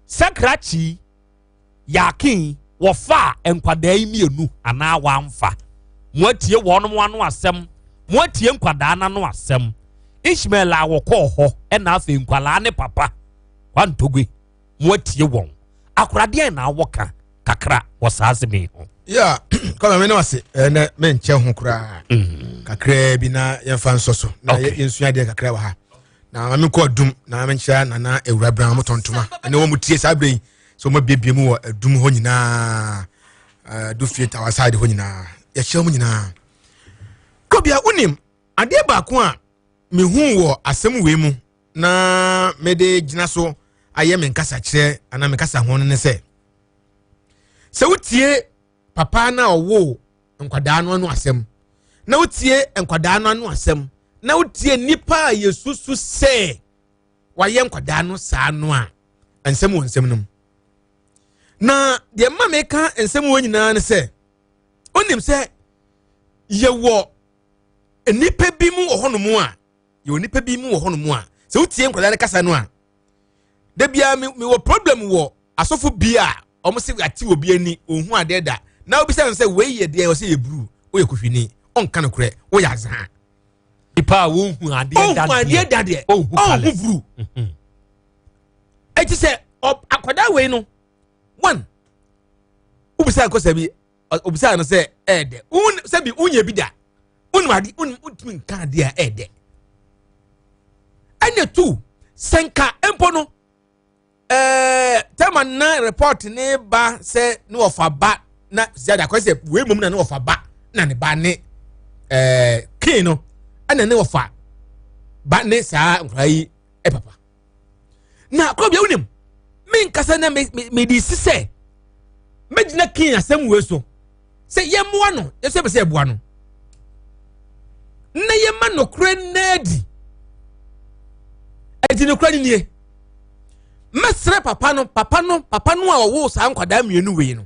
Sakrakyi, Yakin, wɔfaa nkwadaa yi mmienu anaa wɔamfa? Moatie wɔn ano asɛm? Moatie nkwadaa no ano asɛm? Ishmael a wɔkɔɔ hɔ ɛna afei nkwadaa ne papa Kwantogwe, moatie wɔn? Akoradeɛn na awɔ ka kakra wɔ saa asɛm yi ho? Ya, kama me ne wase ɛnɛ menkyɛ ho koraa mm. kakraa bi na yɛmfa nsɔ so na yɛnsua adeɛ kakra wɔ ha na maame kɔ adum na maame nkyerɛ nana awura bra wɔn tɔn ntoma ɛne wɔn tie saa bere yi so wɔn abiebie mu wɔ adum hɔ nyinaa adu fie tawa side hɔ nyinaa yɛkyerɛ wɔn nyinaa kɔbea wonim adeɛ baako a mehu wɔ asɛm wei mu na mede gyina so ayɛ me nkasa kyerɛ anaa me nkasa ho no ne sɛ sɛ wotie papa no a ɔwoo nkwadaa no ano asɛm na wotie nkwadaa no ano asɛm na wotie nnipa a yɛsusu sɛ wayɛ nkwadaa no saa no a nsɛm wɔ nsɛm no mu na deɛ mma meka nsɛm wɔ nyinaa ne sɛ wonim sɛ yɛwɔ nnipa bi mu wɔ hɔnom a yɛwɔ nnipa bi mu wɔ hɔnom a sɛ wotie nkwadaa no kasa no a da biara mewɔ problem wɔ asɔfo bi a wɔn sɛ ate obi ani ohun adeɛ da na obi sɛ sɛ wei yɛ deɛ ɔsɛ yɛ buru oyɛ kuhwini ɔnka no korɛ oyɛ azan. nipa a ohun adeɛ da deɛ ohun adeɛ da deɛ ohun buru mhm. eti sɛ akwadaa wei no one obisa akɔsa bi obisa no sɛ ɛɛdɛ un sɛbi unyɛ bi da unum ade unum untumi nka adeɛ a ɛɛdɛ ɛna tu sɛ nka mpo no. ɛɛ tɛma na report ne ba sɛ ne wɔfa ba na ziyada kɔ sɛ wei mom na ne wɔfa ba na ne ba ne ɛɛ kin no ɛna ne wɔfa ba ne saa nkura yi ɛ papa na kɔ bi ewunim mi nkasa na mi mi mi di si sɛ megyina kin asɛm wei so. sɛ yɛmmoa no yɛsɛ bɛ sɛ ɛboa no na yɛma nokorɛ nna adi ɛti nokorɛ no nie mɛsrɛ papa no papa no papa no a ɔwoo saa nkwadaa mmienu wei no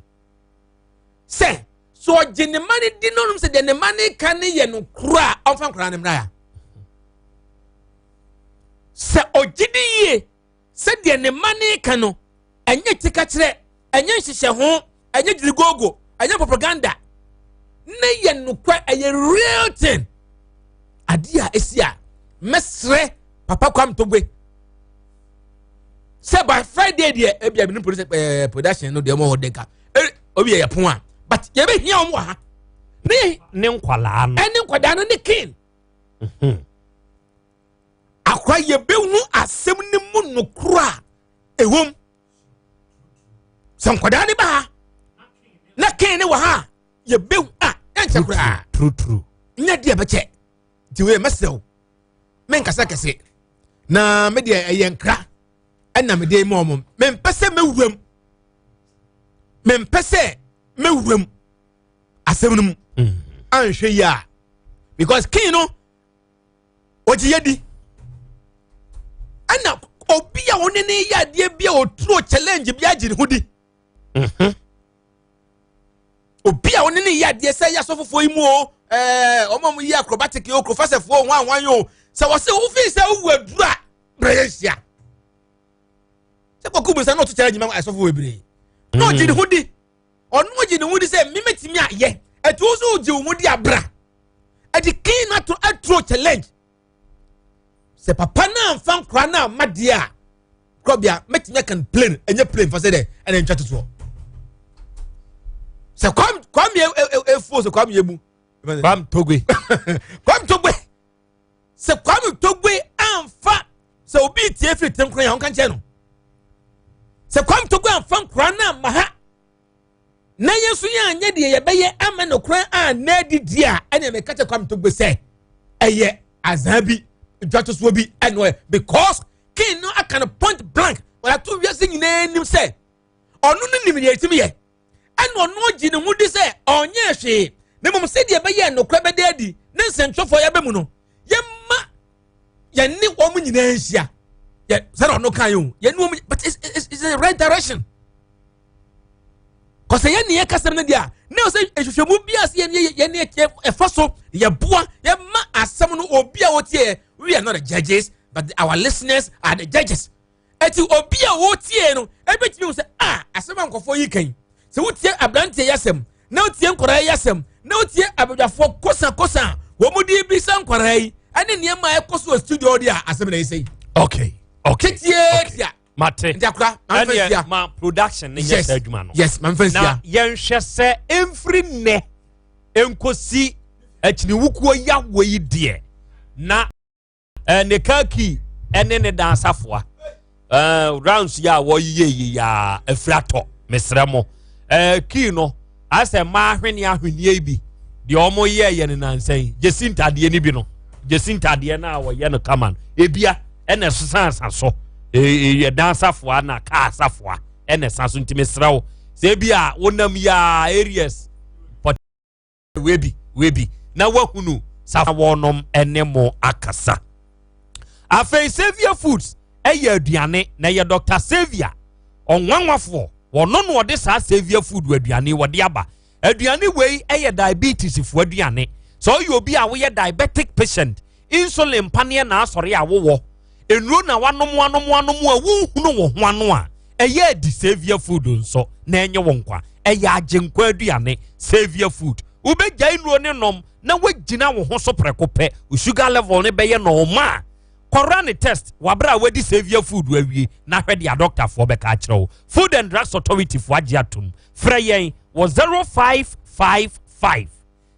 sɛ so ɔgye ne ma no di no nom sɛ deɛ ne ma no ka no yɛ nokorɛ a ɔmfa nkwadaa no mmra ya sɛ ɔgye di yie Sɛdeɛ ne mma no reka no, ɛnyɛ tikakyerɛ, ɛnyɛ nhyehyɛho, ɛnyɛ gyirigoogo, ɛnyɛ propaganda. Ne yɛ nokwɛ, ɛyɛ real thing. Adeɛ a ɛsi a mɛsrɛ Papa Kwame Togbe sɛ by Friday deɛ ebi a binom polisi ɛɛ eh, production no deɛ ɔmo hɔ denka ɛɛ eh, obi yɛ yɛ pon a but yɛ bɛ hia ɔmo wɔ ha. Ne ne nkwadaa no. Ɛne nkwadaa no ne kin. Mhm. akora yɛbɛhu asɛm no mu nokoro a ɛwom sɛ nkwadaa ne baa na kee ne wɔ ha a yɛbɛhu a ɛnkyɛ koraa nyɛ deɛ bɛkyɛ nti wei mɛsrɛ wo menkasa kɛse na medeɛ ɛyɛ nkra ɛna mede ma ɔmo mempɛ sɛ mɛwuram mempɛ sɛ mɛwuram asɛm no mu mm. anhwɛ yi a because king no ɔgye yɛ di ɛna obi a wo ne ne yɛ adeɛ bi a ɔturo challenge bi agye ne ho di mhm. obi a wo ne ne yɛ adeɛ sɛ yɛ asɔfofoɔ yi mu o ɛɛ wɔn a wɔyi acrobatic yi o kurofasɛfoɔ wɔn a wɔn yi o sɛ wɔsɛ wofi sɛ wowu aduru a brɛ yɛ nhyia sɛ kɔkɔ bu nsa na ɔto challenge ma asɔfoɔ bebree na ɔgye ne ho di. ɔno ogye ne ho di sɛ memetumi ayɛ ɛti wo so wogye wo ho di abra ɛde clean ato aturo challenge sɛ papa no amfa nkora no amma deɛ a korɔbea mɛtumi aka no plane ɛnyɛ plane fa sɛ dɛ ɛne ntwa totoɔ sɛ kwam kwam yɛ efuo sɛ kwam yɛ mu. kwam togwe. kwam togwe. sɛ kwame togbe anfa sɛ obi tie firi tirim kora yɛ ɔnka nkyɛn no sɛ kwame togbe anfa nkora no amma ha na yɛn nso yɛn anyɛ deɛ yɛbɛyɛ ama no kora a na adi di a ɛna mɛka kyɛ kwame togbe sɛ ɛyɛ azan bi dwatosoɔ bi ɛna ɔyɛ because king no aka no point blank wɔyɛ ato wiase nyinaa anim sɛ ɔno no nim deɛ ɛtumi yɛ. ɛna ɔno ogye ne ho di sɛ ɔnyɛɛ hwee na mmom sɛdeɛ ɛbɛyɛ nokorɛ bɛda adi ne nsɛntwerɛfoɔ yɛbɛ mu no yɛma yɛne wɔn nyinaa nhyia yɛ sɛdeɛ ɔno kan yɛ o yɛne wɔn but it's, it's, it's the right direction kɔsɛ yɛne yɛ kasɛm no deɛ a na ɔsɛ nhwehwɛmu bi a sɛ yɛne yɛne ɛfa so yɛboa yɛma asɛm no obi a wɔtie we are not the judges but our listeners are the judges Eti obi a wotie no ebetumi hu sɛ a ah, asɛm a nkɔfoɔ yi kan sɛ wotie aberanteɛ yi asɛm na wotie nkwaraa yi asɛm na wotie abadwafoɔ kosakosa a wɔn de bi sɛ nkwaraa yi ɛne nneɛma a ɛkɔ so wɔ studio de a asɛm na ɛsɛ yi. okay okay titietia mate ntakora manfɛsia ma production ne nyɛ sɛ adwuma no yes manfɛsia na yɛnhwɛ sɛ mfiri nnɛ nkosi akyiniwukuo yawo yi deɛ na. eh, ne car key ne ne dan asafoa eh, rounds yi a wɔyeyɛ yi yɛ afiri atɔ mesrɛ mo eh, key no asɛ mmaa ahwene ahweneɛ bi deɛ wɔn yɛ yɛ ne nansa yi gyesi ntadeɛ no bi no gyesi ntadeɛ no a wɔyɛ no kama no ebia ɛna ɛsosansa so eh, eh, yɛ dan asafoa na car asafoa ɛna ɛsa so nti mesrɛ wo sɛ ebi a wonam yɛ areas. webi webi na wahunu saa wɔnom ne mo akasa afei savia foods ɛyɛ aduane na ɛyɛ dr savia ɔnwanwafoɔ wɔno na ɔde saa savia food wɔ aduane wɔde aba aduane wei ɛyɛ diabetes foɔ aduane sɛ ɔyɛ obi a woyɛ diabetic patient Insulin pa neɛ naasɔre a wowɔ. Nnuro na wanom anom anom a wonhunu wo ho ano a ɛyɛ adi Saviour food nso na ɛnye wo nkwa. Ɛyɛ agyenkwa aduane. Saviour food. Wobɛgyae nnuro no nom na wagyina wo ho so prɛko pɛ. Wo sugar level no bɛyɛ normal. Kɔ run test wɔ aberɛ a wadi Saviour food awie na hwɛ deɛ adɔktafoɔ bɛka akyerɛ wo. Food and Drugs Authority foɔ agye atom. Frɛ yɛn wɔ 0555.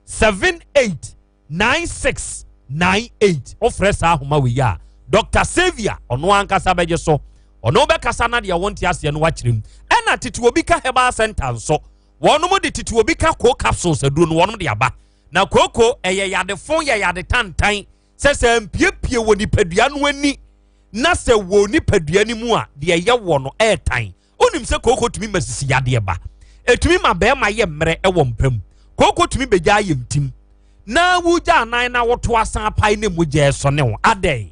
seven eight nine six nine eight wofrɛ saa ahoma wei a dr savia ɔno ankasa bɛgye so ɔno bɛkasa na deɛ wɔnte aseɛ no wakyerɛ mu ɛna tete obi ka herbal center nso wɔnom de tete obi ka koo capsules aduro no wɔnom de aba na kooko ɛyɛ yadefo yɛ yade tantan sɛ sɛ mpiepie wɔ nipadua no ani na sɛ wɔ nipadua no mu a deɛ ɛyɛ wɔ no ɛɛtan Wonim sɛ kooko tumi ma sisi yadeɛ ba. Ɛtumi ma bɛrima yɛ mmerɛ wɔ mpa mu. Kooko tumi bɛgyaa yɛ ntim. Na wogyaa nan na woto asan apae ne mogya ɛsɔne wo. Adɛn?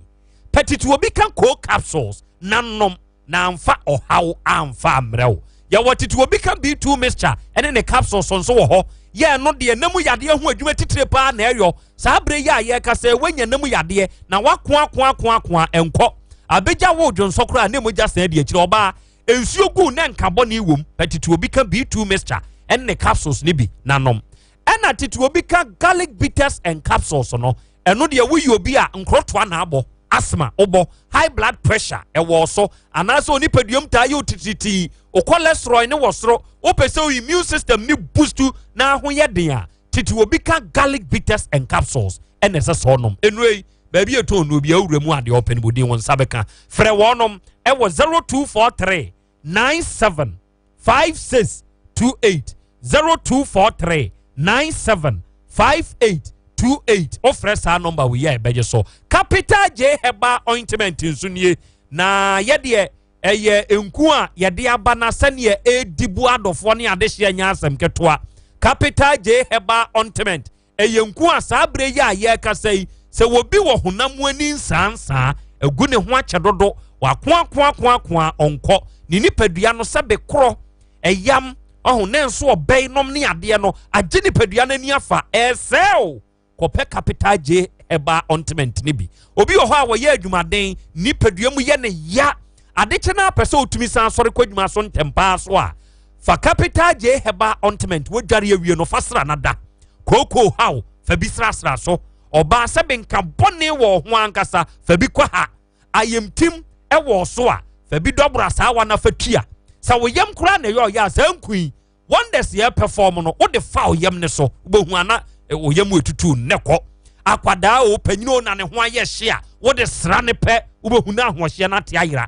Pɛtiti obi ka coal capsules na nom na amfa ɔhaw amfa ammerɛ wo. Yɛwɔ titi obi ka B2 mixture ɛne ne capsules nso wɔ hɔ. Yɛ ɛno deɛ na mu yadeɛ ho adwuma titire paa na ɛyɔ. Saa berɛ yi a yɛrekasa yi, wanya ne mu yadeɛ na wakoakoakoakoa ɛnkɔ. Abɛgya woo dwonsɔ koraa a ne mogya san di akyire. Ɔbaa nsuo guu na nka bɔne wom. Pɛ tete obi ka B2 mixture ɛne ne capsules no bi na nom. Ɛna tete obi ka garlic bitters and capsules no. Ɛno deɛ woyɛ obi a nkorɔtoa na abɔ, asthma wobɔ, high blood pressure ɛwɔ so, anaasɛ onipaduam taa yɛ otitiritii, wo cholesterol ne wɔ soro, wopɛ sɛ wo immune system ne boost na ho yɛ den a, tete obi ka garlic bitters and capsules ɛna ɛsɛ sɛ ɔnom nnuro yi baabi ɛtɔn nnuro bi awura mu adeɛ ɔpɛ no bɔ din wɔn nsa bɛka frɛ wɔnom ɛwɔ zero two four three nine seven five six two eight zero two four three nine seven five eight two eight ɔfrɛ saa nɔmba wei a ɛbɛgye so capital j herbal ointment nso nie na yɛdeɛ. Ɛyɛ nku a yɛde aba na sɛdeɛ ɛredi bu adɔfoɔ ne adehyeɛ nyɛ asɛm ketewa. Capital J Herbal Ointment ɛyɛ nku a saa berɛ yi a yɛrekasa yi sɛ obi wɔ honam mu ani nsaansaa, agu ne ho akyɛ dodo, wakoakoakoakoa a ɔnkɔ, ne nipadua no sɛ bekorɔ, ɛyam, ɔho ne nso ɔbɛn nom ne adeɛ no agye nipadua no ani afa, ɛresɛe o. kɔpɛ capital J herbal ointment no bi. Obi wɔ hɔ a wɔyɛ adwumaden, nipadua mu yɛ ne ya. Adekyɛ no apɛ sɛ otumi san sɔre kɔ adwuma so ntɛmpaa so a, fa capital J herbal ointment wodware awie no fa sra nada. Kookoo haw fa bi srasra so. Ɔbaa sɛ benka bɔne wɔ ho ankasa fa bi kɔ ha. Ayamtim ɛwɔ so a fa bi dɔbora saa wa na fa tua. Sɛ wo yam koraa na ɛyɛ ɔyɛ a saa nkui wonders yɛ perform no wode fa ɔyam ne so wobɛhu ana ɔyam ɛtutu nnɛ kɔ akwadaa o panyini o na ne ho ayɛ hye a wode sra ne pɛ wobɛhu no ahoɔhyeɛ no ate ayera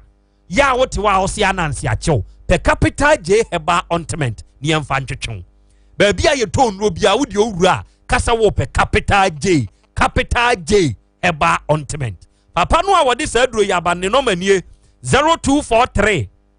yɛ a wote wɔ a ɔse ananse akyɛw pɛ capital j heba ontment ne yɛmfa ntwetwew baabi a yɛtɔ nnuro bia wodeɛ owura a kasa wɔ pɛ capital j capital j heba ontment papa no a wɔde saa duro yɛ abanne nɔmanie 0243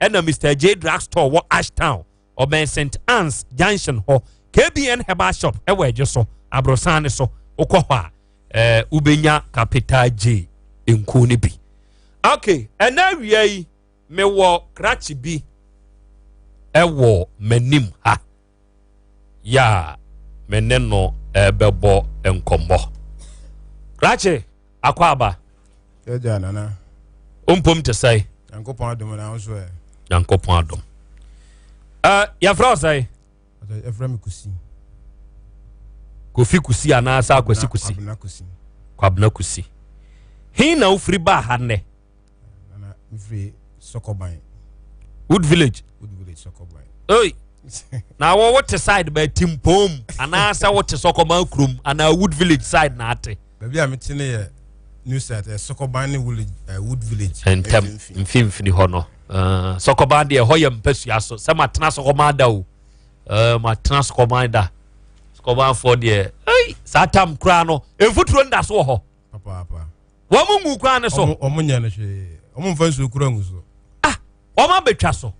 ɛna mr j drug store wɔ ashtown ɔbɛn st anne's junction hɔ kbn herbal shop ɛwɔ adwo so aborosan ne so wokɔ hɔ a ɛɛ wobɛnya capital j nkuo no bi ok ɛna awia yi mewɔ krakye bi ɛwɔ m'anim ha yɛ a me ne no rebɛbɔ nkɔmmɔ. Krakye akɔ aba. Yɛgya nana. Ompom te sɛe. Nyankopɔn adom na ahosuo ɛ. Nyankopɔn adom. Uh, yɛfrɛ wo sɛe? Yɛfrɛ me Kusi. Kofi Kusi anaasɛ Akwasi Kusi? Kwabena Kusi. Kwabena Kusi. He na wofiri baa ha nnɛ? wood village oi na wɔ wote side bɛ timpom anaasɛ wote sɔkɔban kurom anaa wood village side na ate baabi a mete no yɛ new site ɛ eh, sɔkɔban ne wood eh, village ntɛm mfimfini hɔ no eh, sɔkɔban deɛ ɛhɔ yɛ mpasua so sɛ matena sɔkɔban da o matena sɔkɔban da sɔkɔbanfoɔ deɛ saa tam koraa no mfuturo nda so wɔ hɔ wɔn mu ngu kwan no so. wɔn nyɛ no hwee wɔn nfa nsuo kura ngu so. ah wɔn abɛtwa so.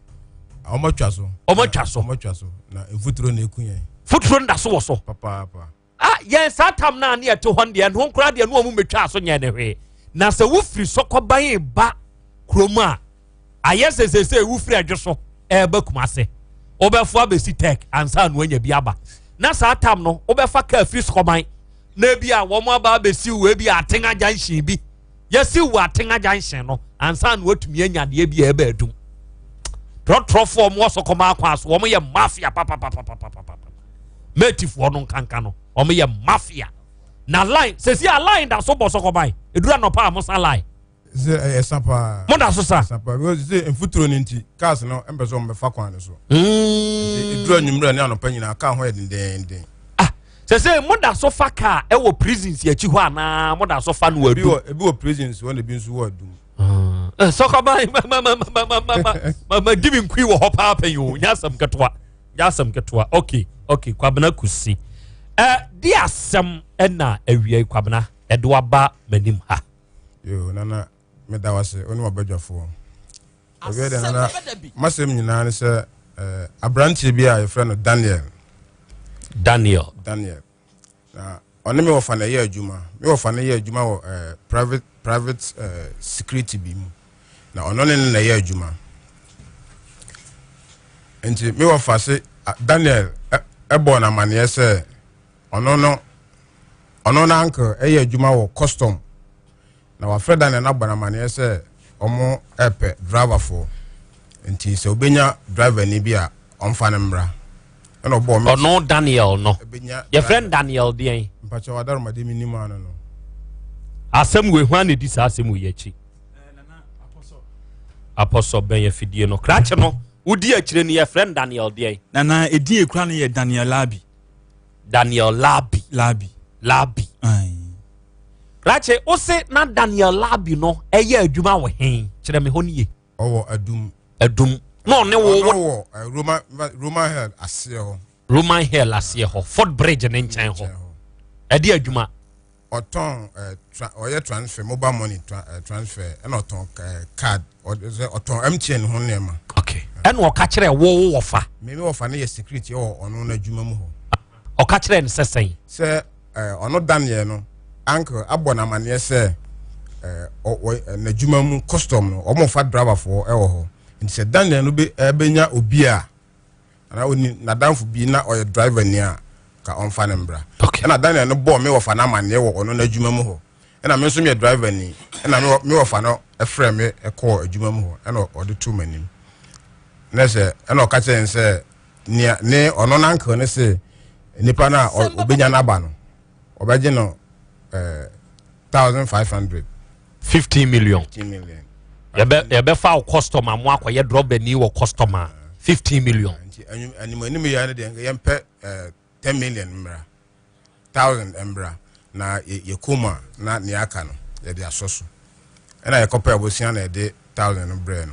wɔn atwa so. wɔn atwa so. wɔn atwa so na efuturo na eku yɛn. futuro nda so wɔ so. papaapa. ah yɛn saa tam naa ne ɛte hɔ deɛ ɛno nkora deɛ no wɔn mu bɛtwa so nyɛ ne hwee na sɛ wofiri sɔkɔban ba kurom a. ayɛ sɛ sese wofiri adwo so ɛreba kuma ase wobɛfo abɛsi tech ansa no anya bi aba na saa tam no wobɛfa kaa firi sɔkɔman na ebi a wɔn aba abɛsi wo ebi a aten agya nhyɛn bi yɛsi wo aten agya nhyɛn no ansa no watumi anya deɛ bi a ɛbɛ adum trɔtrɔfoɔ wɔn wɔ sɔkɔman akwan so wɔn yɛ mafia papapapapapa mɛtifoɔ no nkanka no wɔn yɛ mafia na line sɛsi a line da so bɔ sɔkɔman edura nɔpa a mo sa line. sɛ ɛyɛ sa paa moda so sa sa paa because sɛ mfuturo no nti cars no mpɛ sɛ ɔmbɛfa kwan no so ɛduru hmm. anwummerɛ ne anɔpa nyinaa kaa ho yɛ dendenden ah, sɛ sɛ moda so fa kaa ɛwɔ prisons akyi hɔ anaa moda so fa no adu ebi wɔ prisons hɔ na ebi nso wɔ adum ah. eh, sɔkɔba madi me nkui wɔ hɔ paa pɛ yi o nyɛ asɛm ketewa nyɛ asɛm ketewa ok ok kwabena kusi eh, di asɛm ɛna awia kwabena ɛde waba m'anim ha Yo, Nana, meda wo ase, wo ne wabadwafoɔ. Ɛbɛyɛ dɛ Nana, masɛm nyinaa ne sɛ eh, aberanteɛ bi a yɛfrɛ no Daniel. Daniel. Daniel. Na ɔne me wɔfa no ɛyɛ adwuma. Me wɔfa no yɛ adwuma wɔ eh, private private eh, security bi mu. Na ɔno ne no na ɛyɛ adwuma. Nti me wɔfa se Daniel ɛbɔɔ no amanneɛ sɛ Ɔno no ɔno no uncle ɛyɛ adwuma wɔ custom na wafrɛ da ne nabɔ no amaneɛ sɛ ɔmo ɛpɛ driver foɔ nti sɛ obenya driver ni bi a ɔmfa no mmra ɛna ɔbɔɔ me ɔno Daniel no yɛfrɛ no Daniel deɛn mpakyɛ wadaromade me nim ano no asɛm wei hwan na ɛdi saa asɛm wei akyi apɔsɔ bɛn afidie no krakye no wodi akyire no yɛfrɛ no Daniel deɛn nana ɛdin ɛkura no yɛ Daniel Labi Daniel Labi. Labi. Labi. Rache, wo se na Daniel Labi no ɛyɛ eh, adwuma wɔ he? Kyerɛ me hɔ no ye. Ɔwɔ adum. Adum. Na ɔne wo. Ɔno wɔ eh, Roman Roman hell aseɛ hɔ. Roman hell aseɛ hɔ. Fort Bridge ne nkyɛn hɔ. Ɛde adwuma. ɔtɔn ɛɛ tra ɔyɛ transfer mobile money tra ɛɛ eh, transfer ɛna ɔtɔn ɛɛ eh, card ɔsɛ ɔtɔn mtn ho nneɛma. ok ɛna ɔka kyerɛ wo wo wɔfa. mímí wɔfa no yɛ security ɛwɔ ɔno n'adwuma mu hɔ. ɔka kyerɛ no sɛ sɛn. sɛ ɛɛ eh, ɔno dan yɛ no uncle abɔ n'amaneɛ sɛ ɛɛ ɔwɔ n'adwuma mu custom no wɔn fa driver foɔ ɛwɔ hɔ nti sɛ dan yɛ no bɛ ɛbɛnya obi a. anaa ɔni n'adamfo bi na ɔyɛ driver ni a ka ɔmfa no mbra okay. ɛna Daniel no bɔɔ me wɔfa no amanneɛ wɔ ɔno n'adwuma mu hɔ ɛna me nso meyɛ driver ni ɛna me wɔfa no ɛfrɛ me ɛkɔɔ adwuma mu hɔ ɛna ɔde too m'anim na sɛ ɛna ɔka kyerɛ sɛ nea ne ɔno n'ankel ne se nipa no a ɔbɛnya n'aba no ɔbɛgye no eh, thousand five hundred. fifteen million. fifteen million. yɛbɛ yɛbɛ fa o customer mu akɔyɛ drɔbɛni wɔ customer fifteen million. nti anim anim anim yɛ no deɛ yɛn pɛ eh, ten million mbra thousand mbra na yɛ yɛ kɔn mu a na nea aka no yɛde asɔ so ɛna yɛkɔpɛ abosua na yɛde thousand no brɛ no.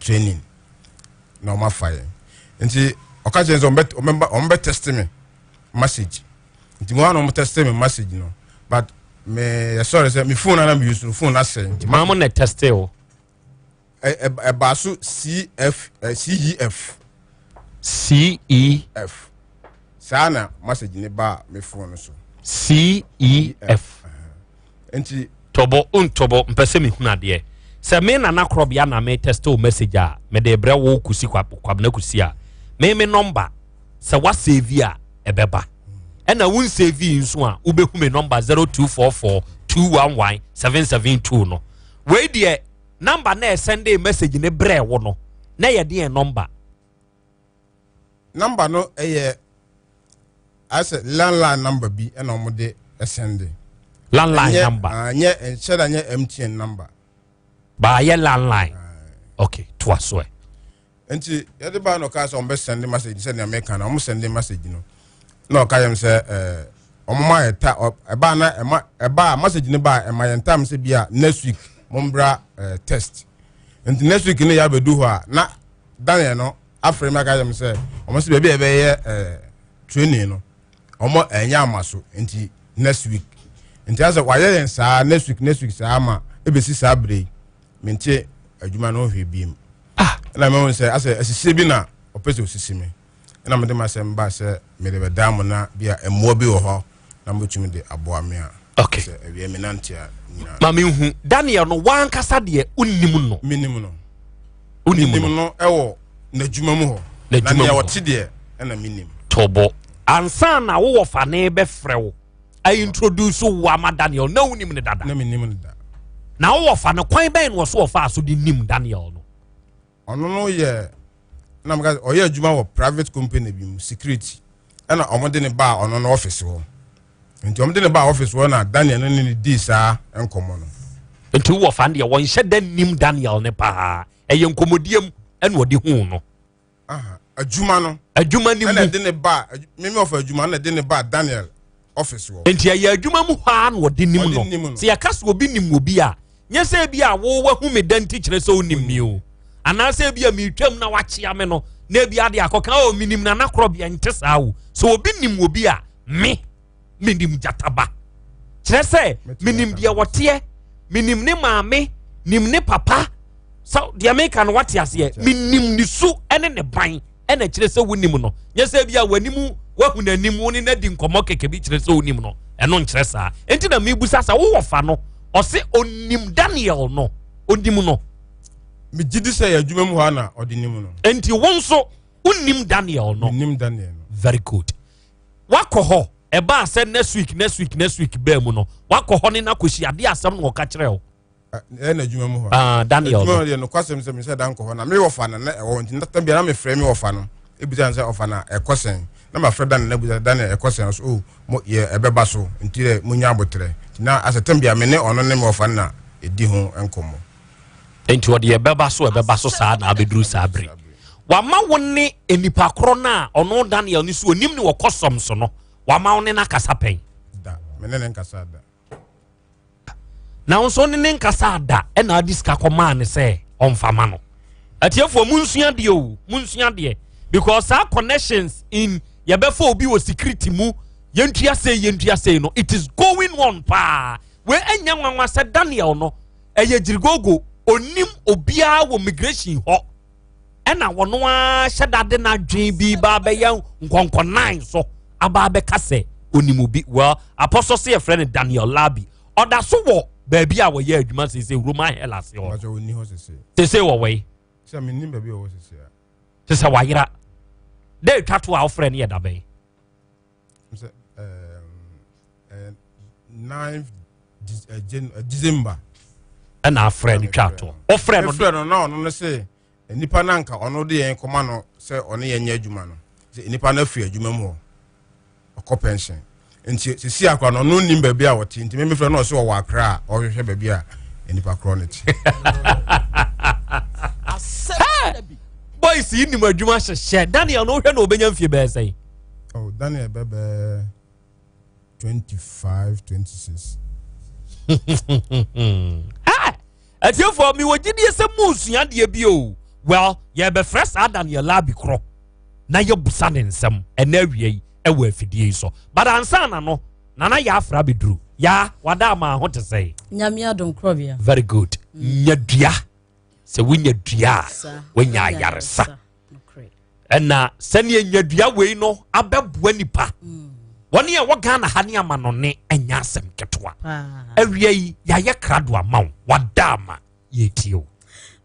training na wɔn afa yɛn nti ɔka kyerɛ sɛ wɔn bɛ test me message nti wɔn a na wɔn test me message no but me yɛ sɔrɔ sɛ me phone na na me use no phone na sɛ nti maa mo na test o ɛbaa so cf cef. CEF, Saa na message ne baa me phone no so. CEF, Nti. Tɔbɔ o ntɔbɔ mpɛ sɛ mehunu adeɛ. Sɛ me nana korɔbea na me test o message a mede brɛ wo kusi kwabena kusi a me me nɔmba sɛ wa save a ɛbɛba ɛna wo nsave yi nso a wobɛhu me nɔmba 0244 211 772 no wei deɛ Number na ɛsɛndee message ne brɛɛ wo no na ɛyɛ deɛn number? Number no ɛyɛ ayɛ sɛ landline number bi ɛna wɔn de ɛsɛnde. Landline ɛnyɛ, number. Uh, nyɛ nhyɛ da nyɛ MTN number. Baayɛ landline. Uh, okay, to a soɛ. nti yɛde baa na ɔka sɛ ɔmbɛ send message sɛ nea meka na ɔmo send message no na ɔka yɛm sɛ ɛɛ ɔmo ma yɛ ta ɛbaa na ɛma ɛbaa message no baa ɛma yɛn tam sɛ bi a next week mo mbra ɛɛ test nti next week no yɛ abɛdu hɔ a na daniel no afrɛ mi aka yɛm sɛ ɔmo sɛ baabi a ɛbɛyɛ ɛɛ training no ɔmo ɛnyɛ ama so nti next week nti asɛ wayɛ yɛn saa next week next week saa ama ebesi saa bere yi. mente adwuma no ho hwee bi mu ah. ɛna mehu sɛ asɛ asisie bi na ɔpɛ sɛ ɔsisi me ɛna mede masɛm ba sɛ mede bɛdaa mo na bi a mmoa bi wɔ hɔ na mobɛtumi de aboa me a okay. sɛ awie me nante a nyinaa ma menhu daniel no wankasa deɛ wonim no menim no wonim no ɛwɔ n'adwuma mu hɔ na deɛ wɔte deɛ ɛna menim tɔbɔ ansa na wowɔ fa ne bɛfrɛ wo I introduce wo ama Daniel na wonim no dada. Na menim no da. Na wowɔ fa no kwan bɛn na ɔso ɔfa so de nim Daniel no. Ɔno no yɛ na meka ɔyɛ adwuma wɔ private company bi mu security ɛna ɔmo de ne baa ɔno no office hɔ nti ɔmo de ne baa office hɔ na Daniel no ne ne dii saa nkɔmɔ no. Nti wowɔ fa no deɛ wɔnhyɛ da nim Daniel ne paa ɛyɛ nkɔmɔdie mu ɛna ɔde huu no. adwuma no adwuma no mu ɛna ɛde ne ba mimi ɔfɔ adwuma ɛna ɛde ne ba daniel ɔfisi wɔ. nti ɛyɛ adwuma mu hɔ a na ɔde nim no sɛ yɛka sɛ obi nim obi a nyɛ sɛ ebi a wɔwɔ hu mi dan ti kyerɛ sɛ onim mi o anaasɛ ebi a mi twam na wakyea mi no na ebi ade akɔka o mi nim na nakorɔ bi ɛnte saa o sɛ obi nim obi a mi. menim gyata ba kyerɛ sɛ menim deɛ wɔteɛ menim ne maame nim ne papa sɛ deɛ meka no wate aseɛ menim ne su ne ne ban ɛna kyerɛ sɛ wonim no nyɛ sɛ bi a w'anim wahu n'anim wo ne n'adi nkɔmmɔ kɛkɛ bi kyerɛ sɛ wonim no ɛno nkyerɛ saa nti na mebusa sɛ wowɔ fa no ɔse onim daniel no onim no megye di sɛ yɛ adwuma mu hɔ a na ɔde nim no nti wo nso wonim daniel no nim daniel no very good wakɔ hɔ ɛbaa sɛ next week next week next week bɛɛ mu no wakɔ hɔ ne no akɔsi adeɛ asɛm no wɔka kyerɛ wo ɛyɛ na adwuma mu hɔ ah, daniel adwuma no deɛ nokwasɛm sɛ mesɛ da nkɔ hɔ na mewɔ fa no na ɛwɔ nti nata bia na mefrɛ me wɔfa no ɛbisa no sɛ ɔfa no ɛkɔ sɛn na mafrɛ daniel na bisa daniel ɛkɔ sɛn so o oh, yɛ ɛbɛba so nti dɛ monya aboterɛ nti na asɛ tam bia me ne ɔno ne me wɔfa no na ɛdi ho nkɔmmɔ nti ɔde ɛbɛba so ɛbɛba so saa na abɛduru saa bere wama wo ne nipa korɔ no a ɔno daniel no so onim ne wɔkɔ sɔm so no wama wo ne no akasa pɛn na wo nso ne ne nkasa ada ɛna ade sika kɔmaa ne sɛ ɔmfama no atiefoɔ mu nsua deɛ o mu nsua deɛ because saa connections in yɛbɛfa obi wɔ security mu yɛntua sei yɛntua sei no it is going on paa wei ɛnyɛ nwanwa sɛ daniel no ɛyɛ gyirigogo ɔnnim obiara wɔ migration hɔ ɛna wɔn ara hyɛ dade n'adwene bi ba abɛyɛ nkɔnkɔnan so aba abɛka sɛ onim obi well apɔsɔ sɛ yɛfrɛ no daniel labi ɔda so wɔ baabi a wɔyɛ adwuma sɛ sɛ roman hell ase hɔ te sɛ wɔwɔ yi te sɛ wayera dɛ twa to a wofrɛ no yɛ dabɛn sɛ ɛɛ nine december. ɛna afrɛ no twa toɔ ɔfrɛ no frɛ no na ɔno no sɛ nipa no anka ɔno de yɛn kɔma no sɛ ɔne yɛn nyɛ adwuma no sɛ nipa no afiri adwuma mu hɔ ɔkɔ pension nti sisi akora no ɔno nim baabi a ɔte nti mɛmi frɛ no ɔsɛ ɔwɔ akra a ɔhwehwɛ baabi a nipa korɔ no te. boys yi nim adwuma hyehyɛ daniel no wohwɛ na ɔbɛnya mfie bɛɛ sɛn Oh, Daniel bɛbɛ 25 26. atiefoɔ mewɔ gyidie sɛ mu nsua deɛ bi o well yɛbɛfrɛ saa daniela bi korɔ na yɛbusa ne nsɛm ɛna awia yi ɛwɔ afidie yi so but ansa na no nana yɛ afra bɛduru ya wada ama ho te sɛ nyame adom korɔbea very good mm. nya dua sɛ wonya dua a wonya ayaresa ɛna sɛnea nnyadua wei no abɛboa nipa mm. wɔne a wɔ ghana ha ne amanɔne ɛnyɛ asɛm ketewa awia yi yɛayɛ krado ama wo wada ama yɛtie o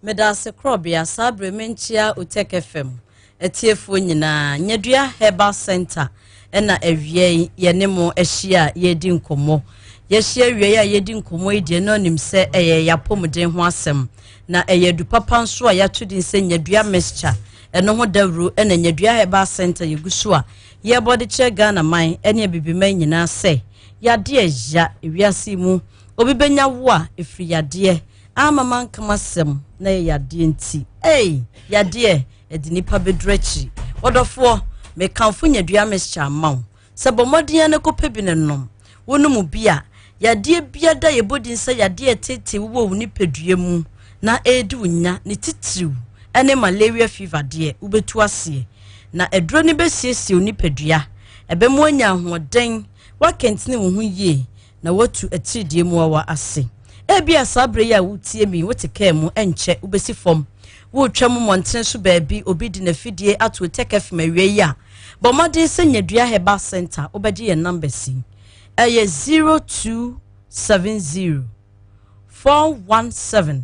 meda ase korɔbea saa berɛ menkyia otek fam atiefoɔ nyinaa nyadua herbal center ɛna awiei yɛne mo ahyia a yɛredi nkɔmmɔ. Yɛahyia awiei a yɛredi nkɔmmɔ yi deɛ na ɔnim sɛ ɛyɛ yɛn apɔmuden ho asɛm, na ɛyɛ adupapa nso a yɛato din sɛ Nyadua Mixture. Ɛno ho dawuro ɛna Nyadua Herbal Center yɛgu so a yɛrebɔ de kyerɛ Ghana man ɛne Abibiman nyinaa sɛ yadeɛ ya ewiase mu obi bɛnya wo a ɛfiri yadeɛ ama mankamasɛm na yɛ yadeɛ nti. Ei! Yadeɛ! ɛde nnipa bɛduru akyiri wɔdɔfoɔ mekamfo nyadua mixture ama wo sɛ bɔ mmɔden na kɔpɛ bi no nom wonom bi a yadeɛ bia da yɛbɔ din sɛ yadeɛ ɛtete wowɔ wo nipadua mu na ɛredi wo nya ne titiriw ɛne malaria fever deɛ wobɛtu aseɛ na aduro no bɛsiesie wo nipadua ɛbɛmu anya ahoɔden woakɛntene wo ho yie na woatu atiridie mmoawa ase. Ebia saa berɛ yi a woretie me yi, wote kaa mu, ɛnkyɛ wobɛsi fam. Woretwa mu mmɔntene so baabi, obi de n'afidie ato tɛkɛfem awia yi a, bɔ mmɔden sɛ nya Dua Herbal Center, wobɛgye yɛn numbers yi. Ɛyɛ 0270 417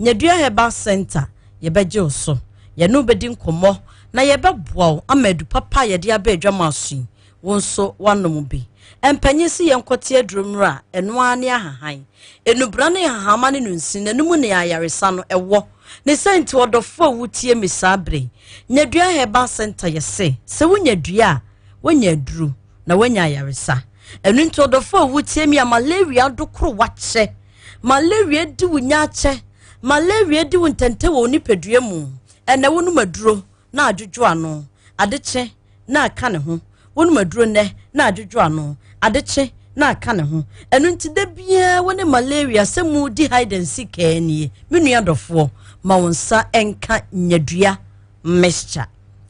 Nyadua Herbal Centre, Yɛbɛgye wo so, yɛne wo bɛdi nkɔmmɔ, na yɛbɛboa wo ama adu papa a yɛde aba adwa mu aso yi, wo nso woanom bi. Mpanyin se yɛnkɔte aduro nnuro a ɛno ara ne ahahan, nnubra ne nhahamma ne no nsini, na ɛno mu ne ayaresa no wɔ. Ne sɛ nti ɔdɔfoɔ a wotie me saa berɛ yi, Nyadua Herbal Centre yɛse, sɛ wonya dua a, woanya aduro. na wanya ayaresa ɛno nti ɔdɔfo a wotie mi a malaria ado koro wakyɛ malaria di wo nya akyɛ malaria di wo ntɛntɛ wɔ nipadua mu ɛnɛ wonom aduro na adwodwo ano adekye na aka ne ho wonom aduro nnɛ na adwodwo ano adekye na aka ne ho ɛno nti da biara wo ne malaria sɛ mu di hide and seek ɛɛ nie me nua dɔfoɔ ma wo nsa nka nyadua mixture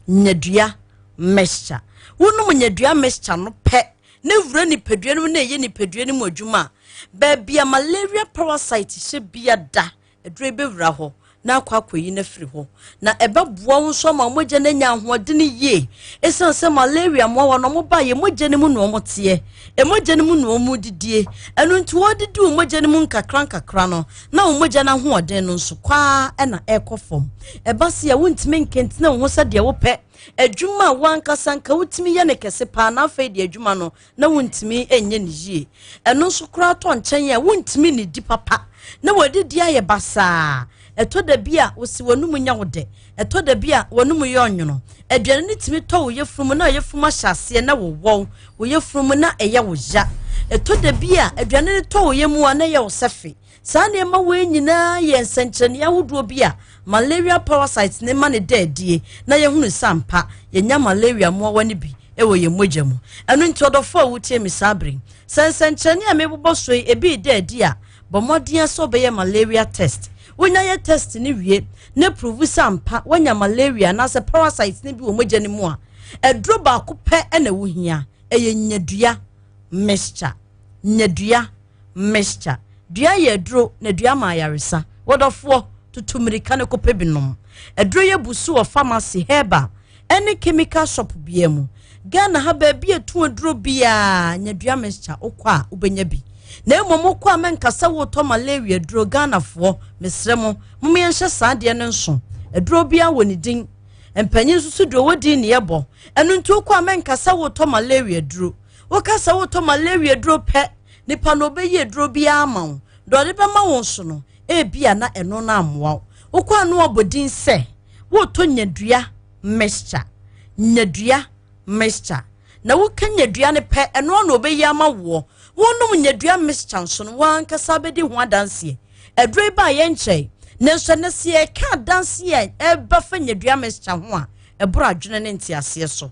nyadua mixture. Wonom nyadua mixture no pɛ na wura nipadua no mu na ɛyɛ nipadua no mu adwuma a, baabi a malaria parasite hyɛ bia da, aduro yi bɛwura hɔ na akɔ akɔyi no afiri hɔ. Na ɛbɛboa wo nso ama mogya no anya ahoɔdene yie. Ɛsiane sɛ malaria mmoawa no wɔba yɛ mogya no mu na wɔteɛ, ɛmogya no mu na wɔn didie. Ɛno nti wɔdidi wo mogya no mu nkakra nkakra no na wo mogya no ahoɔden no nso kwaa na ɛkɔ fam. Ɛba se a wontumi nkentene wo ho sɛdeɛ wopɛ. adwuma a wankasa nka wotumi yɛ no kɛse paa na afei de adwuma no na wontumi nyɛ no yie ɛno nso koraa tɔ nkyɛn a wontumi nnidi papa na wɔadidi ayɛ basaa ɛtɔ da bi a wosi w'anum nya wo dɛ ɛtɔ da bi a w'anum yɛ ɔnwono aduane no tumi tɔ wo yɛfunu mu na yɛfunu mu ahyɛ aseɛ na wowɔw wo yɛfunu mu na ɛyɛ wo ya ɛtɔ da bi a aduane no tɔ wo yɛ mu a na ɛyɛ wo sɛfe Saa nneɛma wei nyinaa yɛ nsɛnkyerɛnne ahodoɔ bi a malaria parasites ne ma ne da adie na yɛhunu sɛ ampa yɛnya malaria mmoawa no bi wɔ yɛn mogya mu. Ɛno nti ɔdɔfoɔ a wotie me saa bere yi, sɛ nsɛnkyerɛnne a mebobɔ so yi ebi reda adi a, bɔ mmɔden ara sɛ wobɛyɛ malaria test. Wonya yɛ test no wie na provu sɛ ampa woanya malaria anaasɛ parasites no bi wɔ mogya no mu a, aduro baako pɛ na wohia, ɛyɛ nnyadua mixture. nya dua, mixture. Dua yɛ aduro na dua ma ayaresa. Wɔdɔfoɔ, tutu mmirika no kɔpɛ bi nom. Aduro yɛ bu so wɔ pharmacy, herbal, ɛne chemical shop biara mu. Ghana ha baabi a ɛtu aduro biara nya dua mixture wokɔ a wobɛnya bi. Na mmom wokɔ a mɛnkasa wotɔ malaria aduro Ghanafoɔ mesrɛ mo mom yɛnhyɛ saa adeɛ no nso. Aduro biara wɔ ne din. Mpanyin nso so deɛ ɔwɔ din ne yɛbɔ. Ɛno nti wokɔ a mɛnkasa wotɔ malaria aduro. Woka sɛ wotɔ malaria aduro pɛ, nipa no ɔbɛyi aduro biara ama wo. Deɛ ɔde bɛma wo nso no, ebia na ɛno no ammoa wo. Wokɔ a na wabɔ din sɛ wotɔ nyadua mixture, nyadua mixture. Na woka nyadua no pɛ, ɛno ara na ɔbɛyi ama woɔ. Wonom nyadua mixture nso no, wankasa bɛdi ho adanseɛ. Aduro yi baa yɛn nkyɛn, nanso ɛnɛ sɛ yɛka adanseɛ a ɛba fa nyadua mixture ho a, ɛboro adwene ne nteaseɛ so.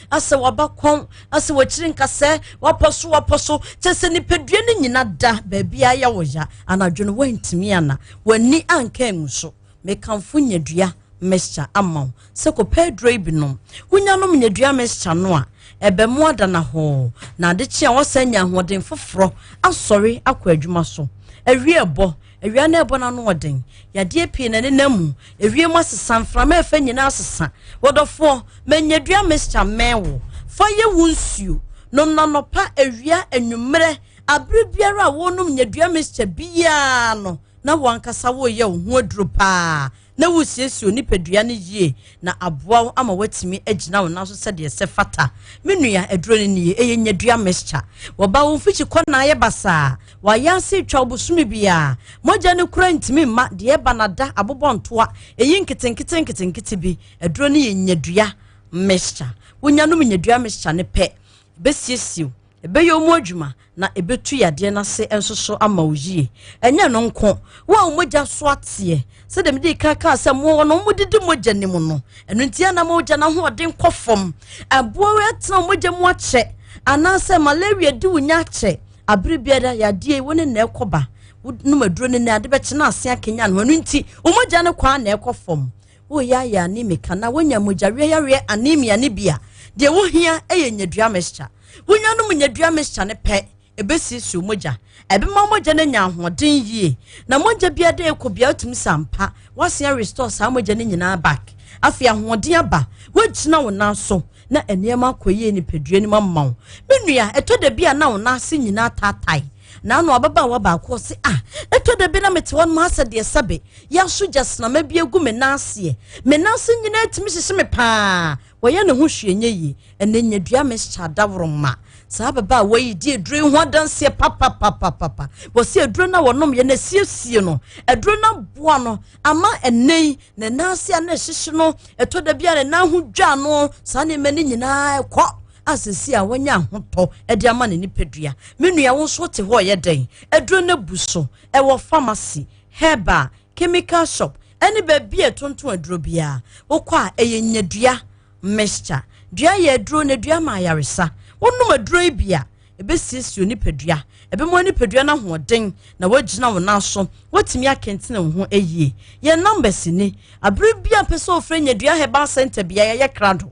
asɛ waba kɔn asɛ wakyiri nkasɛ wapɔ so wapɔ so kyɛ sɛ nipadua no nyina da baabi ayɛ wɔ ya anadwo no wantumi ana w'ani anka angu so mekamfo nyadua mixture ama wo sɛ kɔpɛ aduro yi binom wonyanom nyadua mixture no a ɛbɛmo adana hɔɔ na adekye a wɔsan nya ahoɔden foforɔ asɔre akɔ adwuma so awie ɛbɔ Awia no ɛbɔ n'ano ɔden. Yadeɛ pii na ɛnenam mu. Ewiem asesa, mframa ɛfɛ nyinaa asesa. Wɔdɔfoɔ, manyadua mixture mmɛn wo. Fa yɛ wo nsuo. Nom no anɔpa, awia, anwummerɛ. Abere biara a worenom nyadua mixture biara no, na wo ankasa woreyɛ wo ho aduro paa. na woresiesie wo nipadua no yie na aboa wo ama woatumi agyina wo nan so sɛdeɛ sɛ fata. Me nua, aduro no nie, ɛyɛ nyadua mixture. Wɔba wo mfikyi kɔ na ayɛ basaa, wɔayɛ ase retwa wo bosome biara. Mogya no koraa ntumi mma, deɛ ɛba no ada, abobɔ ntoa, ɛyi nketenkete nketenkete bi. Aduro no yɛ nyadua mixture. Wonya nom nyadua mixture no pɛ, ɛbɛsiesie wo. Ɛbɛyɛ wɔn adwuma na ɛbɛtu yadeɛ no ase nso so ama wo yie. Ɛnyɛ no nko, wo a wo mogya so ateɛ, sɛdeɛ mede kan kaa sɛ mmoa no wɔdidi mogya no mu no, ɛno nti ɛna ma ogya no ahoɔden kɔ fam. Ɛboa wo atena wo mogya mu akyɛ anaasɛ malaria di wo nya akyɛ. Abere biara yadeɛ yi wo ne na ɛkɔba. Wonom aduro no na ade bɛkye na ase akanyan ho. Ɛno nti wo mogya no kwan na ɛkɔ fam. Woyaaya anemica na wonya mogyaweayareɛ anemia no bi a, deɛ wohia yɛ nyadua mixture. Wonya nom nyadua mixture no pɛ, ɛbɛsiesiw mogya. Ɛbɛma mogya no anya ahoɔden yie. Na mogya biara dɛ ɛkɔ bia wotumi sa mpa. Woasen restore saa mogya no nyinaa back. Afei ahoɔden aba. Woagyina wo nan so na nneɛma akɔ yie nipadua no mu ama wo. Me nua, ɛtɔ da bi a na wo nan ase nyinaa taatae. Naano ababaawa baako ɔse, Ah, ɛtɔ da bi na mete hɔ nom ha sɛ deɛ sɛbe yɛaso gyasnama bi agu me nan aseɛ. Me nan ase nyinaa tumi hyehye me paa. Wɔyɛ ne ho hwee nyɛ yie. Ɛnɛ nyadua mixture adaworoma. Saa ababaawa yi di aduro yi ho adanseɛ papapapapa. Wɔse aduro no a wɔnomyɛ no asiesie no. Aduro no aboa no ama ɛnɛ yi ne nan ase a na ɛhyehye no ɛtɔ da bi a ne nan ho dwa no saa nneɛma no nyinaa ɛkɔ. a sisi a wɔnyɛ ahotɔ de ama ne nipadua me nua wo nso te hɔ yɛ dɛn aduro no abu so ɛwɔ pharmacy herbal chemical shop ɛne baabi a ɛtonto aduro biara wokɔ a ɛyɛ nyadua mixture dua yɛ aduro na dua ma ayaresa wonom aduro yi bi a ɛbɛsiesie nipadua ɛbɛma nipadua no ahoɔden na woagyina wo nan so woatumi akɛntene wo ho ayie yɛn numbers ni abere bi a mpɛ sɛ ofrɛ nyadua herbal center biara yɛyɛ krado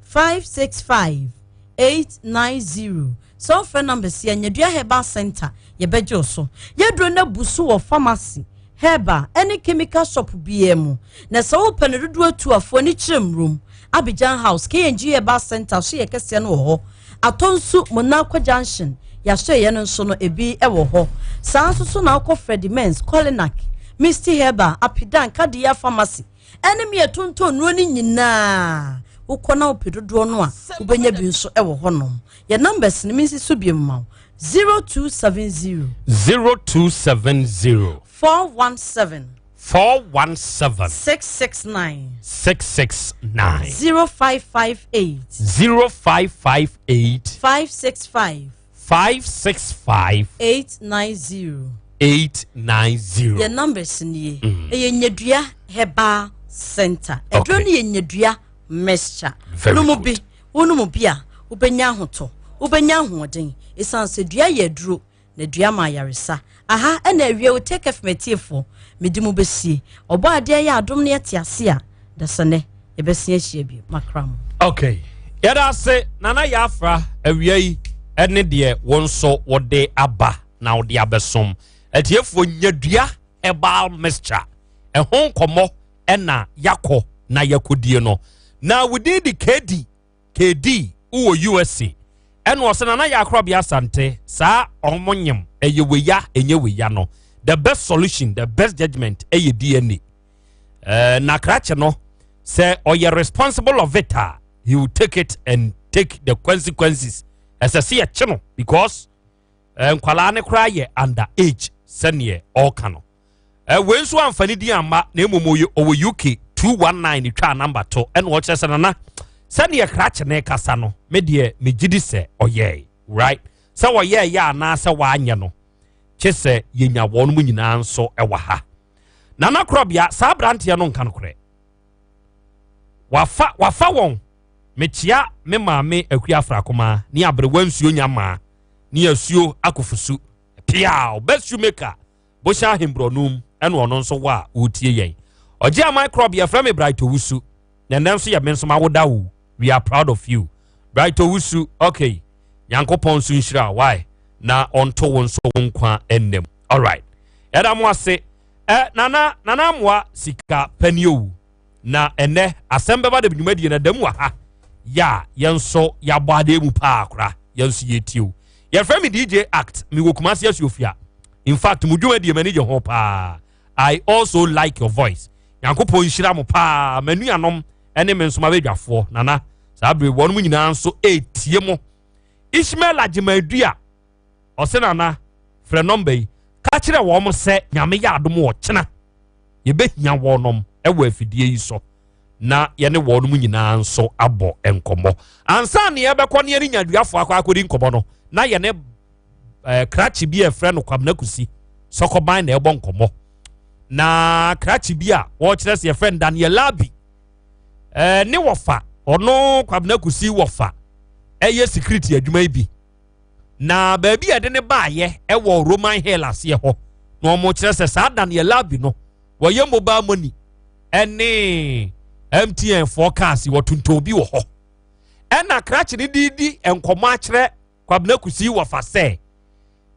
five six five eight nine zero sɛ ɔfrɛ numbers yɛ nyadua herbal center yɛbɛgye o so yɛduro no abu so wɔ pharmacy herbal ɛne chemical shop biara mu na sɛ wopɛ no dodoɔ atu afoɔ ani kyerɛ mmurom abidjan house kng herbal center so yɛ kɛseɛ no wɔ hɔ atɔ nso monarco junction yɛahyɛ yɛn no nso no ebi wɔ hɔ saa nso so na akɔ freddy mens colinac misty herbal apidan kadeya pharmacy ɛne me ɛtontɔn nnuro no nyinaa wokɔ na wopɛ dodoɔ no a wobɛnya bi nso ɛwɔ hɔnom yɛ numbers no mensi so bio ma wo 0270 0270 417 four one seven six six nine six six nine zero five five eight zero five five eight five six five five six five. eight nine zero. eight nine zero. yɛ numbers ni ye. Mm. ɛyɛ nyadua herbal center. ɛduro ni yɛ nyadua mixture. very good nomu bi wonomu bi a wobɛnya ahotɔ wobɛnya ahoɔden esan sɛ dua yɛ aduro na dua ma ayaresa. Aha ɛna awie o take care of m'atiefoɔ mede mo bɛsie ɔbɔ adeɛ yɛ adom ne ɛte ase a dasane yɛbɛsen ahyia bi makra mo. Okay yɛda ase nana yɛ afra awia yi ɛne deɛ wɔn nso wɔde aba na wɔde abɛsom atiefoɔ nyadua herbal mixture ɛho nkɔmɔ ɛna yakɔ na yakɔdie no na within the kdi KD wo wɔ USA ɛna ɔsɛ nana yɛ akora bia asante saa ɔmo nyem ɛyɛ weya ɛnyɛ weya no the best solution the best judgment ɛyɛ DNA uh, na krakye no sɛ ɔyɛ responsible of it a he will take it and take the consequences ɛsɛ sɛ yɛkye no because nkwadaa no koraa yɛ under age sɛdeɛ ɔreka no wei nso amfa ne din amma na mmom ɔwɔ uk 219 twaa namba to ɛna ɔkyerɛ sɛ nana sɛdeɛ krakye ne kasa no me deɛ megye di sɛ ɔyɛe right sɛ wɔyɛɛ yɛ anaasɛ wɔanyɛ no kye sɛ yɛnya wɔn mu nyinaa nso wɔ ha nana korɔbea saa aberanteɛ no nka no korɛ Wafa wafa wɔn. Mekyea me maame Akua Afrakumaa ne aberewa nsuo nya maa ne asuo akofusu piaw bɛ shoemaker bohyɛ ahemborɔnum ɛna ɔno nso wɔ a ɔretie yɛn ɔgye aman krɔb yɛfrɛ me Bright Owusu na ɛnɛ nso yɛ me nso mawoda wo we are proud of you Bright Owusu okay nyankopɔn nso nhyira why na ɔnto wo nso wo nkwa ɛnam alright ɛda mo ase Ɛ nana nana amoa sika pɛ ni owu na ɛnɛ asɛm bɛba de dwumadie na dam wɔ ha yɛ a yɛn nso yɛabɔ adeɛ mu paa kora yɛn nso yɛtie o yɛfrɛ me dj act mewɔ kumase asuofia in fact mo dwumadie m'ani gye ho paa i also like your voice nyankopɔn nhyira mo paa manuanom ɛne me nso mabɛdwafoɔ nana saa bere wɔnom nyinaa nso ɛtie mo ishmael agyemadua Ɔse Nana, frɛ nɔmba yi, ka kyerɛ wɔn sɛ Nyame yɛ adom ɔkyena yɛbɛhia wɔnom wɔ afidie yi so na yɛne wɔnom nyinaa nso abɔ nkɔmmɔ. Ansa ne yɛbɛkɔ ne yɛne nyaduafoɔ akɔ akɔdi nkɔmmɔ no, na yɛne eh, krakye bi a ɛfrɛ no Kwabena Kusi sɔkɔban na ɛbɔ nkɔmmɔ. Na krakye bi a wɔkyerɛ sɛ yɛfrɛ no Daniel Labi eh, ne wɔfa ɔno Kwabena Kusi wɔfa ɛyɛ security adwuma yi bi. na baabi a yɛde no baayɛ wɔ Roman Hill aseɛ hɔ na wɔkyerɛ sɛ saa da no yɛ labi no wɔyɛ mobile money ɛne MTN foɔ cars wɔtontɔn bi wɔ hɔ ɛna krakye no de di nkɔmɔ akyerɛ Kwabena Kusi wɔfa sɛ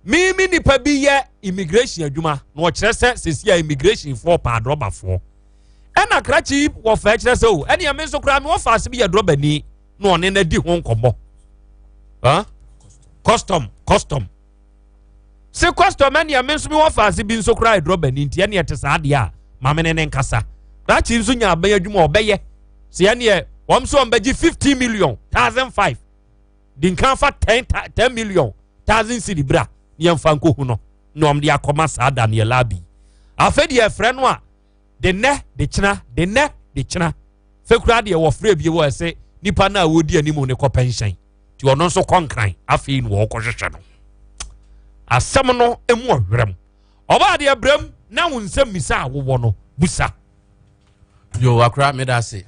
mimi nipa bi yɛ immigration adwuma na wɔkyerɛ sɛ sɛsi a immigration foɔ paa drɔbafoɔ ɛna krakye wɔfa kyerɛ sɛ o ɛne ɛme nso koraa me wɔfa ase bi yɛ drɔbani na ɔne no adi ho nkɔmmɔ custom custom se custom ɛneɛ me nso mewɔ faase bi nso koraa ɛdurɔ bani nti ɛneɛ ɛte saa adeɛ a ma mene ne nkasa krakye nso nya abɛn adwuma ɔbɛyɛ sɛ ɛneɛ wɔm sɛ ɔmbɛgye 50 million thousand five de nka fa 10 10 million thousand cedi bra ne yɛmfa nkɔhu no na ɔmde akɔma saa daneɛ labi afei deɛ ɛfrɛ no a de nnɛ de kyena de nnɛ de kyena fɛ koraa deɛ wɔfrɛ bie wɔ ɛsɛ nipa no a wɔdi anim no kɔ pɛnhyɛn nti ɔno nso kɔ nkran afei na wɔkɔhwehwɛ no asɛm no mu ɔwerɛm ɔbaa deɛ brɛm na wo nsɛm misa a wowɔ no busa yo akora meda ase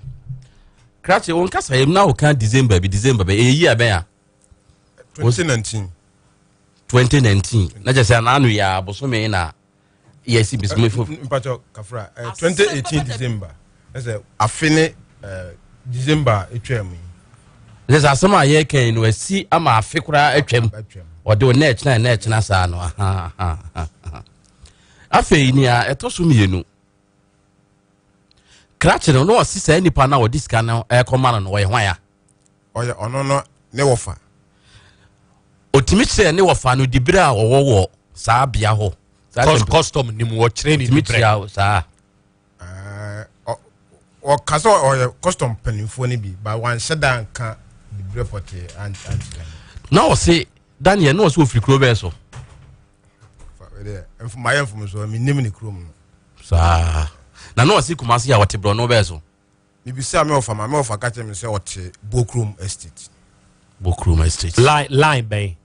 krakye wo nkasa yɛm na woka december bi december bɛ ɛyɛ yi abɛn a 2019 2019 na kyɛ sɛ anaano yɛ abosome na yes it is me for. mpatsɔ kafra eh, twenty eighteen december ɛsɛ afe ne eh, december etwa mu yi. ɛsɛ sɛ asɛm a yɛreka yi no asi ama afe koraa atwam ɔde o na ɛkyena na ɛkyena saa no afei nea ɛtɔ so mmienu krakye no na ɔsi saa nipa na ɔde sika no ɛkɔma no no ɔyɛ hwan a. ɔyɛ ɔno no ne wɔfa. Ɔtumi kyerɛ ne wɔfa no dibere a ɔwɔ wɔ saa bea hɔ custom nim wɔkyerɛ ne dibere saa. ɔka sɛ ɔyɛ custom mpanimfoɔ no bi ba wanhyɛ da nka dibere pɔtee ankyerɛ na ɔse daniel na ɔsɛ ɔfiri kuro bɛɛ so mayɛ mfomsoɔ menim ne kurom no saa na na ɔse kumase a ɔte borɔ no bɛɛ so Mibisaa me wɔfa ma me wɔfa ka kyerɛ me sɛ ɔte Bokrom Estate. Bokrom Estate. Line line bɛn?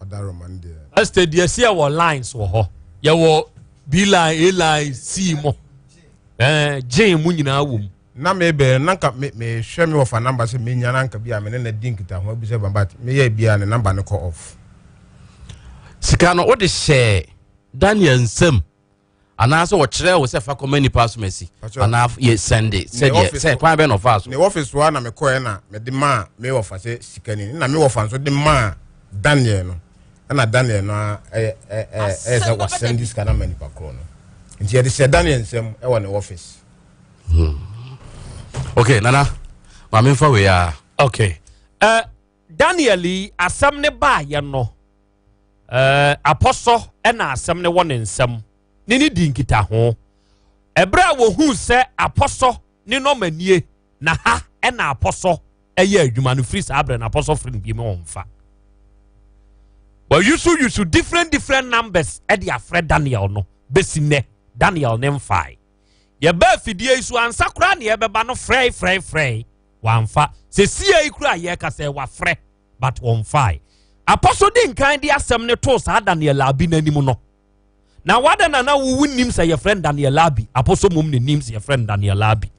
Adaroma no deɛ. Estate deɛ si ɛwɔ lines wɔ hɔ. Yɛwɔ B line, A line, C mo. Ɛɛ gyen mu nyinaa wɔ mu. Na me bɛn na nka me me hwɛ me wɔfa namba sɛ me nya na nka bi a me ne na di nkita ho abisa bamba me yɛ bi a ne namba no kɔ off. Sika no wode hyɛ Daniel nsam. anaasɛ ɔkyerɛ wo sɛ fa kɔma nipa asomasi anaa yɛ sɛnde sɛdeɛ sɛ kwan bɛ na ɔfaa so. ne wɔfis wa na mekɔɛ na mede maa me wɔfa sɛ sikani na me wɔfa nso de maa daniel no ɛna daniel no ɛyɛ ɛyɛ sɛ wasɛn de sika no ama nipa korɔ no nti yɛde hyɛ daniel nsɛm ɛwɔ ne wɔfis. Hmm. okay nana maame nfa wei a. okay. Uh, Daniel yi asɛm no baeɛ no, apɔsɔ na asɛm no wɔ ne nsam ne ne di nkitaho. Ɛberɛ a wɔhuu sɛ apɔsɔ ne nɔmanie na ha na apɔsɔ ɛyɛ adwuma no, firi saa berɛ no apɔsɔ firi no bi mu ɔmfa. Wɔyusu different different numbers ɛde afrɛ Daniel no bɛsi nnɛ Daniel ne mfae. Yɛbaa fidie yi so ansa koraa na yɛbɛba no frɛe frɛe frɛe wamfa. Sesie yi koraa yɛkasa yi wafrɛ but wɔmfae. Apɔ so di nkan de asɛm no too saa Daniel Abi no anim no. Na wada na na wowu nim sɛ yɛfrɛ no Daniel Abi. Apɔ so mmom ne nim sɛ yɛfrɛ no Daniel Abi.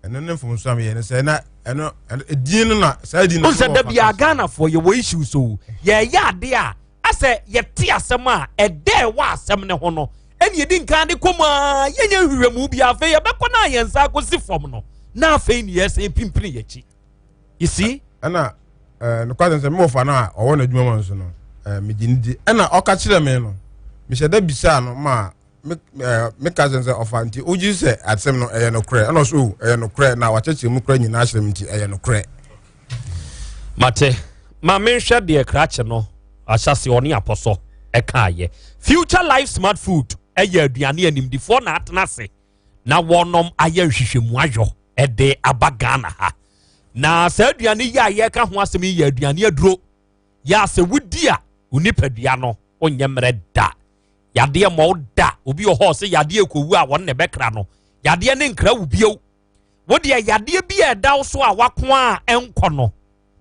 ɛno ne mfomso a meyɛ no sɛ na ɛno edin no na saa edin no sɛ da bi a ghanafoɔ yɛwɔ issue so yɛyɛ ade a asɛ yɛte asɛm a ɛdɛ ɛwɔ asɛm no ho no ɛne yɛdi nkan de kɔ mu a yɛnyɛ nhwehwɛmu bi afei yɛbɛkɔ no a yɛn nsa akɔsi fam no na afei ne yɛsɛn pimpini yɛkyi you see ɛna nokwasɛm sɛ mewɔfa no a ɔwɔ no adwuma ma nso no megye no di ɛna ɔka kyerɛ me no mehyɛ da bisaa no ma me ɛɛ me ka sɛ sɛ ɔfa nti ogye sɛ asɛm no ɛyɛ nokorɛ ɛna ɔso oh, ɛyɛ nokorɛ na wakyɛkyɛ mu kora nyinaa asɛm nti ɛyɛ nokorɛ. mate ma menhwɛ deɛ krakye no ahyɛse ɔne apɔsɔ ɛkaayɛ future life smart food ɛyɛ aduane animdifoɔ na atena ase na wɔnom ayɛ nhwehwɛmu ayɔ ɛde aba ghana ha na saa aduane yi a yɛka ho asɛm yi yɛ aduane aduro yɛ asɛ wodi a wo nipadua no wonyɛ mmerɛ da yadeɛ mmɔ wo da obi wɔ hɔ sɛ yadeɛ kɔwu a wɔn na ɛbɛkra no yadeɛ ne nkra wo bio wo deɛ yadeɛ bi a ɛda wo so a wako a ɛnkɔ no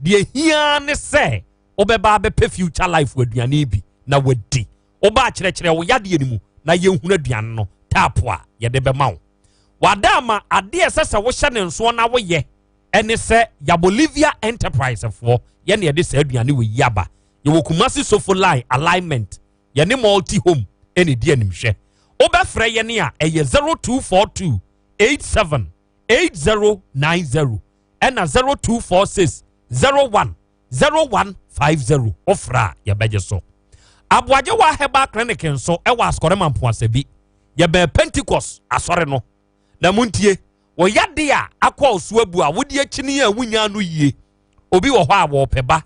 deɛ hia ne sɛ wobɛba abɛpɛ future life aduane bi na wadi woba akyerɛkyerɛ wo yadeɛ no mu na yɛhunu aduane no taapo a yɛde bɛma wo wada ama adeɛ ɛsɛ sɛ wohyɛ ne nsoɔ na woyɛ ɛne sɛ yabolivia enterprise foɔ yɛne ɛde saa aduane wɔ yi aba yɛwɔ kumase sofo line alignment yɛne multi home ɛna ɛdi animhwɛ wobɛfrɛ yɛne a ɛyɛ 0242 87 8090 ɛna 0246 01 0150 wofrɛ a yɛbɛgye so aboagyewa herbal clinic nso ɛwɔ asɔrema mpoasa bi yɛbɛn pentecost asɔre no na montie wɔyade a akɔ ɔso abu a wode akyini a wonya no yie obi wɔ hɔ a wɔpɛ ba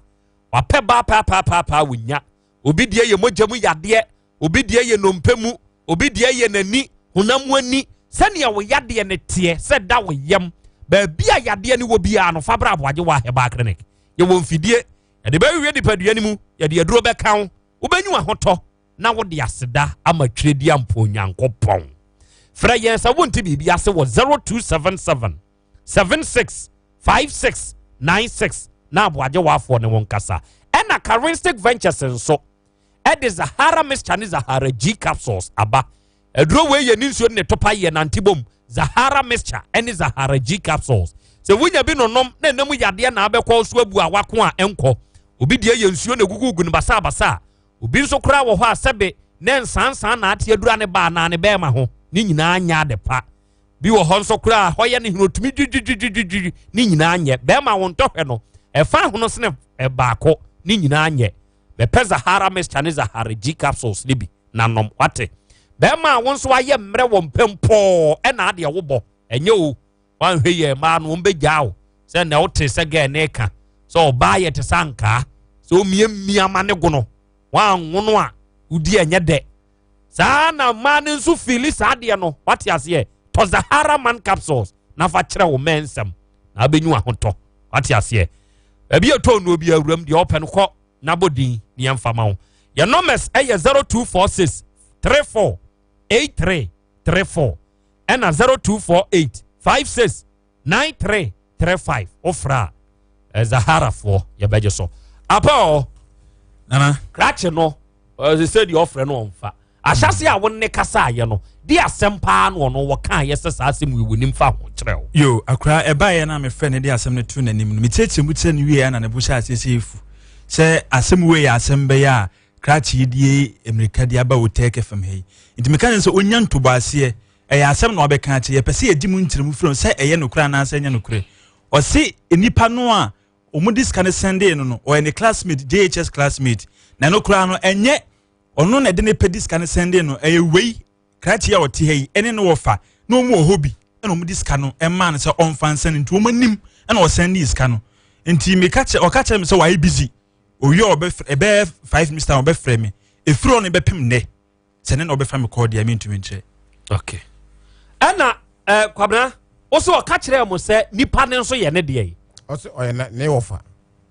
wapɛ ba paapaapaa wɔnya obi deɛ yɛ mogya mu yadeɛ obi deɛ yɛ nnompe mu obi deɛ yɛ n'ani honam mu ani sɛnea wo yadeɛ no teɛ sɛ da wo yam baabi a yadeɛ no wɔ biara no fa bra aboagyewa herbal clinic yɛwɔ mfidie yɛde bɛwiwie nipadua no mu yɛde aduro bɛka wo wobɛnyi ahotɔ na wode aseda ama twerɛdi ampɔ onyankopɔn frɛ yɛn sɛ wonte biribi ase wɔ 0277 seven six five six nine six na aboagye wafoɔ ne wɔn kasa ɛna karinstic ventures nso ɛde zahara mixture ne zahara g capsules aba aduro wei yɛ ne nsuo ne topa yɛ nante bom zahara mixture ɛne zahara g capsules sɛ wonya bi nonom na ɛnam yadeɛ na abɛkɔ so abu a wako a ɛnkɔ obi deɛ yɛ nsuo na egugugu no basabasa obi nso koraa wɔ hɔ a sɛbe ne nsansan na ate adura ne baa na ne bɛrima ho ne nyinaa nya ade pa bi wɔ hɔ nso koraa hɔ yɛ ne hene otumi dwidwidwidwidwi ne nyinaa nyɛ bɛrima wɔn ntɔhwɛ no ɛfa ahono sene ɛbaako ne nyinaa nyɛ bɛpɛ zahara mixture ne zahara g capsules ne bi na nom wate bɛrima wɔn nso ayɛ mmerɛ wɔn pɛm pɔɔ ɛna adeɛ wobɔ ɛnyɛ o wɔanhwɛ yɛ mmaa no wɔn bɛgyaa o sɛ na wote sɛ gɛɛ ne ka sɛ ɔbaa yɛ te sɛ ankaa sɛ omiamia ma ne gono wɔanwono a wodi ɛnyɛ dɛ saa ara na mmaa no nso fiili saa adeɛ no wate aseɛ tɔ zahara man capsules na fa kyerɛ wo mɛ nsɛm na abɛnyu ahotɔ wate aseɛ baabi ɛtɔ nnuo bi awuram deɛ ɔpɛ no kɔ na bɔ din ne yɛmfa ma wo yɛ nɔmɛs ɛyɛ 0246 34 83 34 ɛna 0248 56 nine three three five wofra a eh, zaharafoɔ yɛbɛgye so apa ɔ nana krakye no ɔsɛ sɛ deɛ ɔfrɛ no ɔmfa ahyɛse a wone kasa ayɛ no de asɛm paa no ɔno wɔka yɛ sɛ saa asɛm yi wɔnim fa ho kyerɛ wo yo akora ɛbaeɛ no a mefrɛ no de asɛm no to n'anim no mekyerɛkyerɛ mu kyerɛ no wie na ne bo hyɛ aseɛ sɛ ɛfu sɛ asɛm wei yɛ asɛm bɛyɛ a krakye die mmirika de aba wo tɛkɛ fam ha yi nti meka ne sɛ ɔnya ntobɔ aseɛ ɛyɛ asɛm na wabɛka akyerɛ yɛpɛ sɛ yɛgye mu nkyerɛmu firi sɛ ɛyɛ nokorɛ anaasɛ ɛnyɛ nokorɛ ɔse nnipa no a wɔde sika no sɛndee no no ɔyɛ ne classmate jhs classmate na ɛno koraa no ɛnyɛ ɔno na ɛde ne pɛ de sika no sɛndee no ɛyɛ wei krakye a ɔte ha yi ɛne ne wɔfa na wɔn wɔ hɔ bi ɛna wɔde sika no ɛmaa no sɛ ɔmfa nsɛn nti wɔn anim ɛna ɔsɛndee sika no nti meka kyerɛ ɔka kyerɛ me sɛ wayɛ busy owie ɔbɛfrɛ ɛbɛyɛ five minutes time ɔbɛfrɛ me efiri ɔno bɛpem nnɛ sɛ ne na ɔbɛfa me kɔɔ deɛ mentumi nkyerɛ okay. ɛna eh, kwabena wo sɛ ɔka kyerɛɛ mo sɛ nipa no nso yɛ ne deɛ yi ɔsɛ ɔyɛ ne wɔfa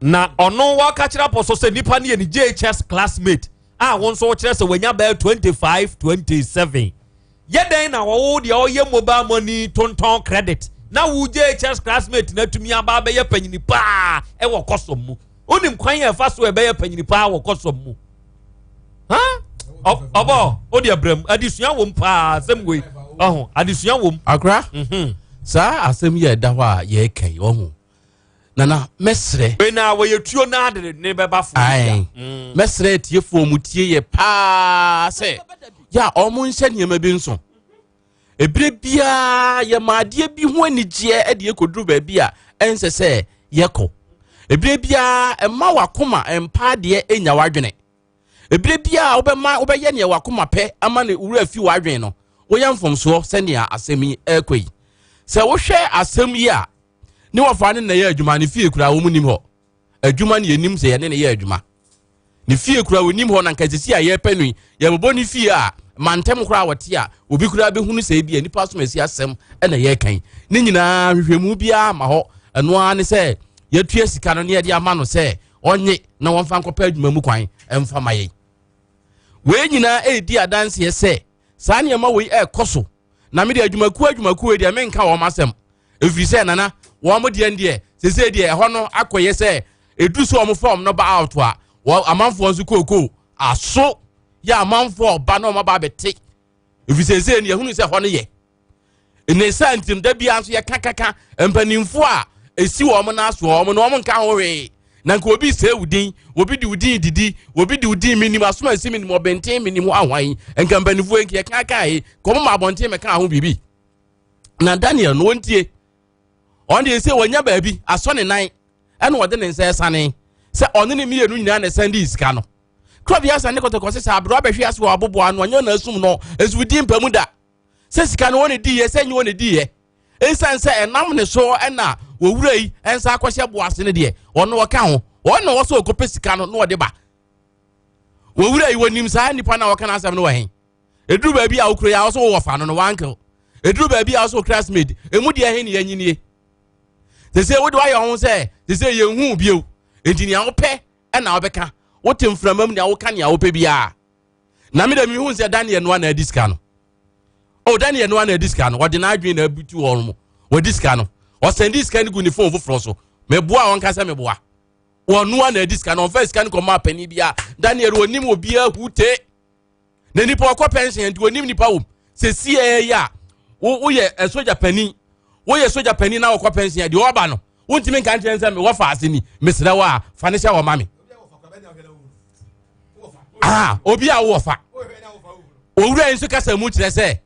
na ɔno wɔka kyerɛ apɔ so sɛ nipa no yɛ ne jhs classmate a wo nso wokyerɛ sɛ wanya bɛɛ 25 27 yɛ dɛn na wɔwo deɛ ɔyɛ mobile money tontɔn credit na wo jhs classmate no atumi aba bɛyɛ panyini paa ɛwɔ kɔsɔm mu wonim kwan yɛ ɛfa so ɛbɛyɛ panyini paa wɔ kɔsɔm mu ɔbɔ o deɛ brɛ mu adesua wɔ mu paa asɛm wei ɔho adesua wɔ mu. akora mhm. saa asɛm yi a ɛda hɔ a yɛreka yi ɔho nana mɛsrɛ. wei na wɔyɛ tuo na de ne bɛba fo. ayi mm. mɛsrɛ tiefoɔ mu tie yɛ paa sɛ yɛ a wɔn nhyɛ nneɛma bi nso. Ɛberɛ biara yɛma adeɛ bi ho anigyeɛ de ɛkɔduru baabi a ɛnsɛ sɛ yɛkɔ. Ɛberɛ biara ɛma wakoma mpa adeɛ ɛnya wadwene. Ɛberɛ biara wobɛma wobɛyɛ neɛ wakoma pɛ ama ne wura fi wadwene no, woyɛ mfomsoɔ sɛnea asɛm yi ɛrekɔ yi. Sɛ wohwɛ asɛm yi a, ne wɔfa ne nnɛyɛ adwuma ne fie koraa wɔn nim hɔ. adwuma no yɛnim sɛ yɛne ne yɛ adwuma ne fie kura wɔnim hɔ na nka sisi a yɛpɛ no yi yɛbɛbɔ ne fie a mantam koraa wɔte a obi koraa bɛhunu sɛ bi a nipa som asi asɛm ɛna yɛkan ne nyinaa hwehwɛmu biara ma hɔ ɛno ara ne sɛ yɛtua sika no ne yɛde ama no sɛ ɔnye na wɔmfa nkɔpɛ adwuma mu kwan ɛmfa ma yɛn wei nyinaa ɛredi adanseɛ sɛ saa nneɛma wei ɛrekɔ so na me deɛ adwumakuo adwumakuo wei deɛ menka wɔn asɛm ɛfiri sɛ nana wɔn deɛ deɛ sese deɛ ɛhɔ no akɔyɛ sɛ ɛduru sɛ wɔn fɔm no ba out a wɔn amanfoɔ nso kookoo aso yɛ amanfoɔ ɔba na wɔn aba abɛte ɛfiri sese no yɛhunu sɛ ɛhɔ no yɛ ne saa ntim da biara nso yɛka kaka mpanimfoɔ a ɛsi wɔn no aso wɔn no wɔn nka ho hwee na nka obi sɛ wo din obi de wo din didi obi de wo din menim asom ansi menim ɔbɛnten menim ho ahwan nka mpanimfoɔ nka yɛka ka he kɔm ma abɔnten mɛka ho biribi na daniel no wɔntie ɔn deɛ sɛ wɔnya baabi asɔ ne nan ɛna ɔde ne nsa ɛsane sɛ ɔne ne mmienu nyinaa na ɛsan de sika no kura bi asan ne kɔtɔkɔ sɛ sɛ aberɛ abɛhwe ase wɔ aboboa no ɔnyɛ na asum no ɛso di mpa mu da sɛ sika no wɔn na diiɛ sɛ nyɛ wɔn na diiɛ nsan sɛ ɛnam ne so ɛna wɔwura yi nsa akɔhyɛ bo ase no deɛ wɔn na wɔka ho wɔn na wɔsɔ ɔkɔpɛ sika no na wɔde ba wɔwura yi wɔnim saa nipa na wɔka n'asɛm no wɔ hɛn eduru baabi a okura yi a wɔsɔ wɔwɔ fa no no wankel eduru baabi a wɔsɔ okura smid emu deɛ hɛn yɛn nyinie sese wode wayɛ ho sɛ sese yɛn hu bio nti nea wɔpɛ ɛna wɔbɛka wote mframa mu nea wɔka nea wɔpɛ biara. na mi de mi hu sɛ daniel noa na adi sika no o daniel noa na adi sika no wɔde n'adwene na abutu wɔn mo wɔdi sika no ɔsɛn di sika no gu ne fon foforɔ so meboa wɔn kasa meboa wɔn noa na adi sika no ɔnfɛ sika no kɔ maa panyin bi a daniel onim obi ahu te na nipa ɔkɔ pɛnhyɛn nti onim nipa wom sɛ sie yɛ a woyɛ sogya panyin woyɛ sogya panyin na ɔkɔ pɛnhyɛn deɛ ɔba no wontumi nka nkyerɛ sɛ mewɔ faase ni mesrɛ wo a fa ne hyɛ wɔ ma me ah, obi a wowɔ fa owura yi nso kasa mu kyerɛ sɛ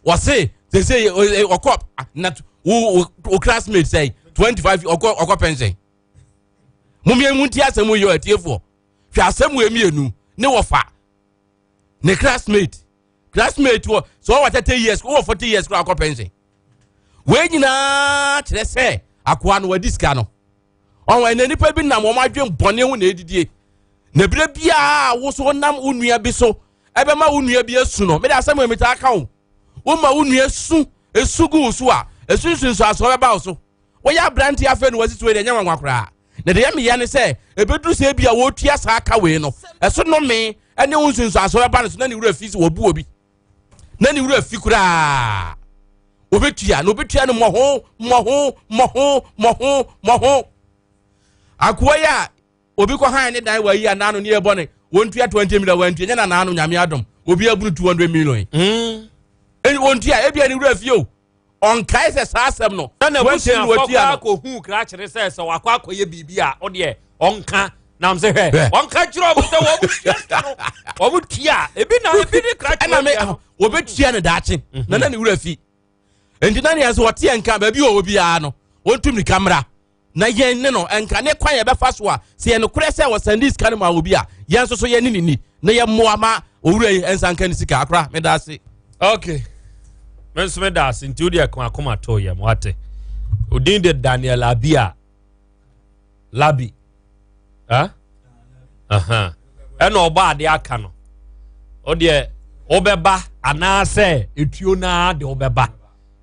wɔse sese ɔkɔ na wo wo classmate sɛ twenty five ɔkɔ ɔkɔ pension mo mmienu ti asɛm yɛ ɔtiefoɔ hwɛ asɛm wɔ mmienu ne wɔfa ne classmate classmate wɔ sɛ ɔwɔ thirty years wɔ forty years kora akɔ pension wei nyinaa kyerɛ sɛ akoa no wadi sika no ɔwɔ ɛna nipa bi nam wɔn adwene bɔne ho na edidie na ebire biara woso nam wo nua bi so ɛbɛma wo nua bi esu no mede asɛm mi taa ka o woma wo nua su esu gu so a esunsunsu aso ɔbɛba wo so. wɔyɛ aberanteɛ afei na wɔasisi wei deɛ ɛnyɛ nwanwa koraa na deɛ meyɛ ne sɛ ɛbɛduru sɛ bi a wɔtua saa ka wei no ɛso nome ɛne wo nsunsuaso bɛba no so na ne wura fi sɛ wɔbu obi na ne wura fi koraa wɔbɛtua na wɔbɛtua no mmɔho mmɔho mmɔho mmɔho mmɔho akoa yi a obi kɔ han ne dan wɔayi anaa no ne yɛ bɔne wɔntua 20 million wɔantua nyɛ na naa no nyame adom obi abunu 200 million mm. wɔntua ebia ne wura fi o ɔnkae sɛ saa asɛm no na n'abusuafoɔ kɔ akɔhuu krakyere sɛ sɛ wakɔ akɔyɛ biribi a ɔdeɛ ɔnka nam sɛ hwɛ ɔnka kyerɛ ɔmo sɛ wɔn tua sika no wɔn tua ebi na ebi ne krakyere ɛna me ah, wɔbɛtua ne daakye mhm. na na ne wura fi nti na nea sɛ wɔteɛ nka baabi wɔ wɔ biara no wɔntum ne kamera na yɛn ne no nka ne kwan yɛbɛfa so a sɛ yɛ nokorɛ sɛ wɔsɛnde sika no ma obi a yɛn nso so yɛne ne ni na yɛmmoa ma owura yi nsa nka ne sika akora meda ase okay me nso meda ase nti wodeɛ ko akoma too yɛm wate odin de daniel abia labi eh? uh-huh. ɛna ɔbɔ ade aka no ɔdeɛ wobɛba anaasɛ etuo naa de wobɛba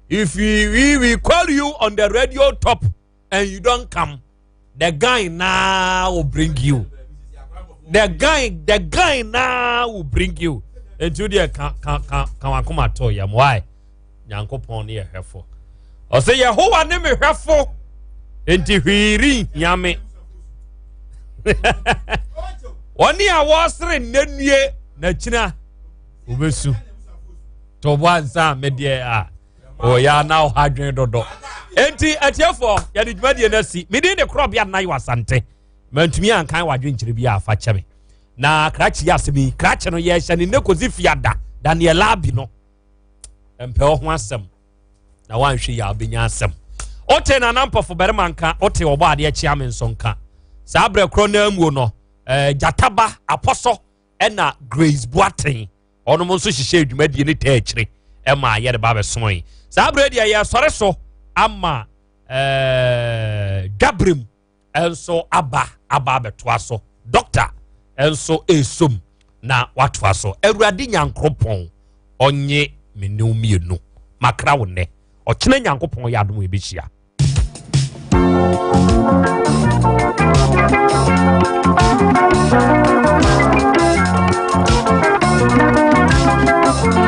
if we, we call you on the radio top and you don't come the guy now will bring you the guy the guy now will bring you nti wodeɛ ka ka ka ka wakoma to yam why nyankopɔn ne yɛ hwɛfo ɔsɛ yehowa ne me hwɛfo enti hwee renhia me wɔne a wɔsere nnannue na kyina wɔbɛsu to bo ansa medeɛ a ɔyɛ ana ɔha adwene dodo enti atiefoɔ yɛde dwumadie no asi medin de korɔbea nna yɛ asante mantumi ankan wadwenkyerɛ bi a afa kyɛ me na krakye yɛ asɛm yi krakye no yɛhyɛ ne nnɛ kɔsi fiada daniel abi no mpɛ ɔho asɛm na wanhwɛ yɛ a wobɛnya asɛm wote nana mpɔfo barima nka wote ɔbɔ adeɛ kyea me nso nka saa berɛ korɔ no amuo no eh, gyataba apɔsɔ ɛna grace boaten ɔnom nso hyehyɛ adwumadie ne taa akyire ɛma yɛde ba bɛsoe saa berɛ deɛ yɛsɔre so ama eh, dwaberem nso aba aba abɛtoa so dɔkta nso ɛsom na watoa so awurade nyankoropɔn ɔnye me ne mmienu makra wo nnɛ ɔkyena nyankopɔn yɛ adom yɛbɛhyia